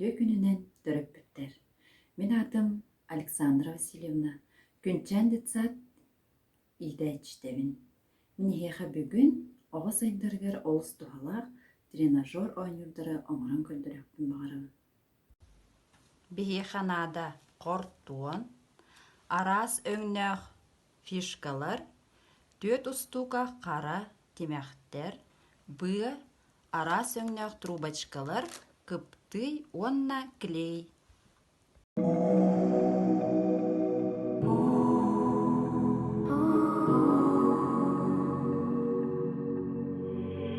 Үтүө күнүнэн төрөппүттэр! Мин аатым Александра Васильевна, Күнчээн детсад иитээччитэбин. Мин эһиэхэ бүгүн оҕо сайдарыгар олус туһалаах тренажер оонньуурдары оҥорон көрдөрүөхпүн баҕарабын. Биһиэхэ наада хортуон, араас өҥнөөх фишкалар, түөрт устуука хара тимэхтэр, быа, араас өҥнөөх трубочкалар, кыптый уонна клей